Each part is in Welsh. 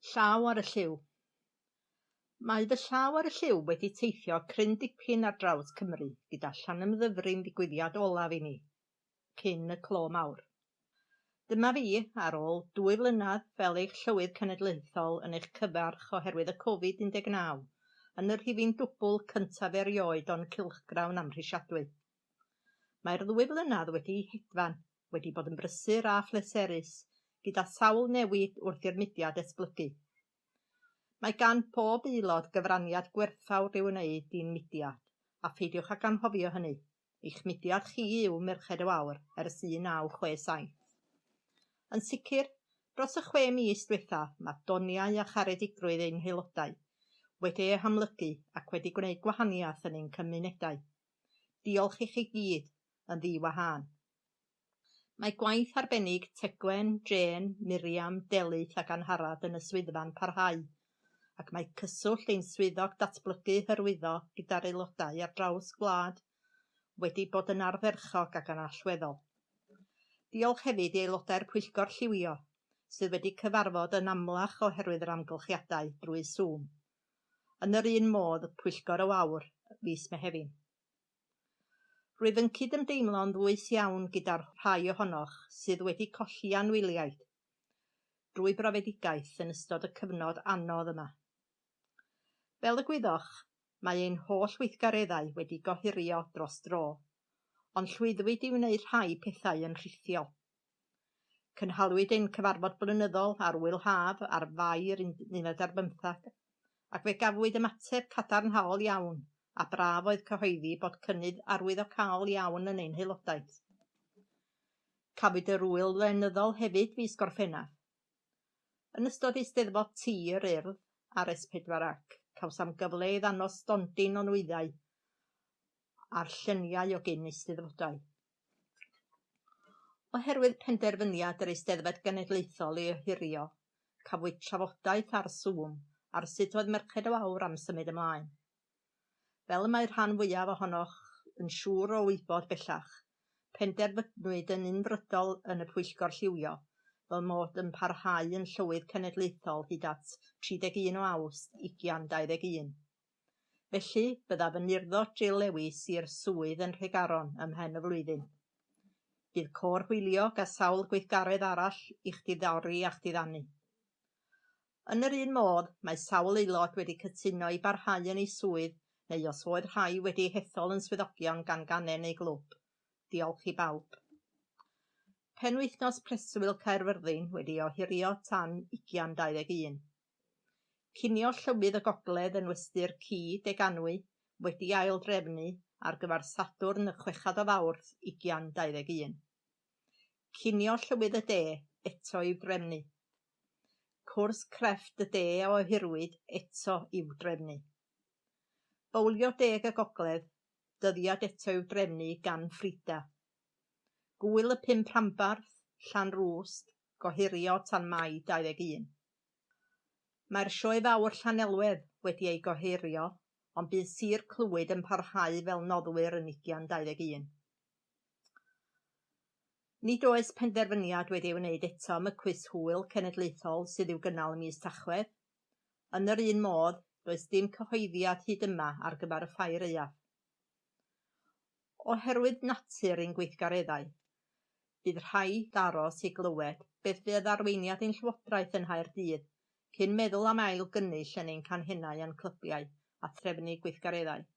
Llaw ar y lliw. Mae fy llaw ar y lliw wedi teithio cryn dipyn ar draws Cymru gyda Llanymddyfri'n ddigwyddiad olaf i mi, cyn y clo mawr. Dyma fi, ar ôl dwy flynedd fel eich Llywydd Cenedlaethol yn eich cyfarch oherwydd y Covid 19, yn y rhifyn dwbl cyntaf erioed o'n cylchgrawn amhrisiadwy. Mae'r ddwy flynedd wedi hedfan, wedi bod yn brysur a phleserus, gyda sawl newid wrth i'r mudiad esblygu. Mae gan bob aelod gyfraniad gwerthfawr i'w wneud i'n mudiad, a pheidiwch ag anghofio hynny. Eich mudiad chi yw Merched y Wawr ers 1967. Yn sicr, dros y chwe mis diwethaf, mae doniau a charedigrwydd ein haelodau wedi eu hamlygu ac wedi gwneud gwahaniaeth yn ein cymunedau. Diolch i chi gyd, yn ddi-wahân. Mae gwaith arbennig Tegwen, Jane, Miriam, Delyth ac Angharad yn y swyddfa'n parhau, ac mae cyswllt ein Swyddog Datblygu Hyrwyddo gyda'r aelodau ar draws gwlad wedi bod yn ardderchog ac yn allweddol. Diolch hefyd i aelodau'r Pwyllgor Lliwio, sydd wedi cyfarfod yn amlach oherwydd yr amgylchiadau, drwy Zoom. yn yr un modd y Pwyllgor o Aur, fis Mehefin. Rwyf yn cydymdeimlo'n ddwys iawn gyda'r rhai ohonoch sydd wedi colli anwyliaid drwy brofedigaeth yn ystod y cyfnod anodd yma. Fel y gwyddoch, mae ein holl weithgareddau wedi gohirio dros dro, ond llwyddwyd i wneud rhai pethau yn rhithiol. Cynhaliwyd ein cyfarfod blynyddol ar Wyl Haf ar Fai'r unfed ar bymtheg, ac fe gafwyd ymateb cadarnhaol iawn, a braf oedd cyhoeddi bod cynnydd arwyddocaol iawn yn ein haelodaeth. Cafwyd yr Ŵyl Lenyddol hefyd fis Gorffennaf. Yn ystod Eisteddfod Tir, Urdd, ar S4 ac, cawsam gyfle i ddangos stondin o nwyddau a'r lluniau o gyn Eisteddfodau. Oherwydd penderfyniad yr Eisteddfod Genedlaethol i ohirio, cafwyd trafodaeth ar Zoom ar sut oedd Merched y Wawr am symud ymlaen. Fel y mae rhan fwyaf ohonoch yn siŵr o wybod bellach, penderfynwyd yn unfrydol yn y Pwyllgor Lliwio fy mod yn parhau yn Llywydd Cenedlaethol hyd at 31 o Awst 2021. Felly, byddaf yn urddo Jill Lewis i'r swydd yn Nhregaron ym mhen y flwyddyn. Bydd Côr Hwyliog a sawl gweithgaredd arall i'ch diddori a'ch diddanu. Yn yr un modd, mae sawl aelod wedi cytuno i barhau yn eu swydd neu os oedd rhai wedi hethol yn swyddogion gan gangen eu glwb. Diolch i bawb. Penwythnos Preswyl Caerfyrddin wedi ohirio tan ugian dau ddeg un. Cinio Llywydd y Gogledd yn Westy'r Ci, Deganwy, wedi ail-drefnu ar gyfer Sadwrn y chwechad o Fawrth ugian dau ddeg un. Cinio Llywydd y De eto i'w drefnu. Cwrs Crefft y De a ohirwyd eto i'w drefnu. Bowlio Deg y Gogledd, dyddiad eto i'w drefnu gan Frida. Gŵyl y Pump Rhanbarth, Llanrwst, gohirio tan Mai 21. Mae'r Sioe Fawr Llanelwedd wedi ei gohirio ond bydd Sir Clwyd yn parhau fel noddwyr yn ugian 21. Nid oes penderfyniad wedi ei wneud eto am y Cwis Hwyl Cenedlaethol sydd i'w gynnal ym mis Tachwedd. Yn yr un modd, does dim cyhoeddiad hyd yma ar gyfer y Ffair Aeaf. Oherwydd natur ein gweithgareddau, bydd rhaid aros i glywed beth fydd arweiniad ein Llywodraeth yng Nghaerdydd cyn meddwl am ail gynnull yn ein canghennau a'n clybiau a threfnu gweithgareddau.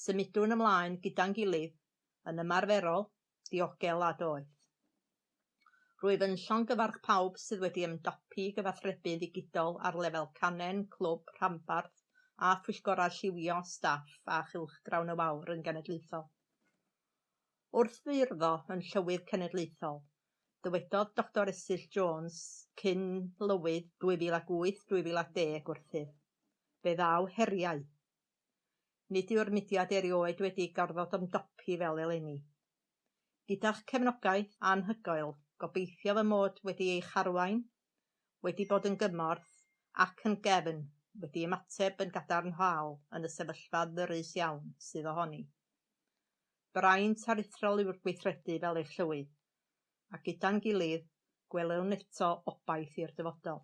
Symudwn ymlaen gyda'n gilydd, yn ymarferol, diogel a doeth. Rwyf yn llongyfarch pawb sydd wedi ymdopi i gyfathrebu ddigidol ar lefel canen, clwb, rhanbarth a phwyllgorau lliwio, staff a chylchgrawn y wawr yn genedlaethol. Wrth feirfo yn Llywydd Cenedlaethol, dywedodd Doctor Esyll Jones, cyn Lywydd 2008-2010 wrthyf, Fe ddaw heriau, Nid yw'r mudiad erioed wedi gorfod ymdopi fel eleni. Gyda'ch cefnogaeth anhygoel, gobeithio fy mod wedi eich arwain, wedi bod yn gymorth, ac yn gefn, wedi ymateb yn gadarnhaol yn y sefyllfa ddyrys iawn sydd ohoni. Braint aruthrol yw'r gweithredu fel eich llywydd, a gyda'n gilydd, gwelwn eto obaith i'r dyfodol.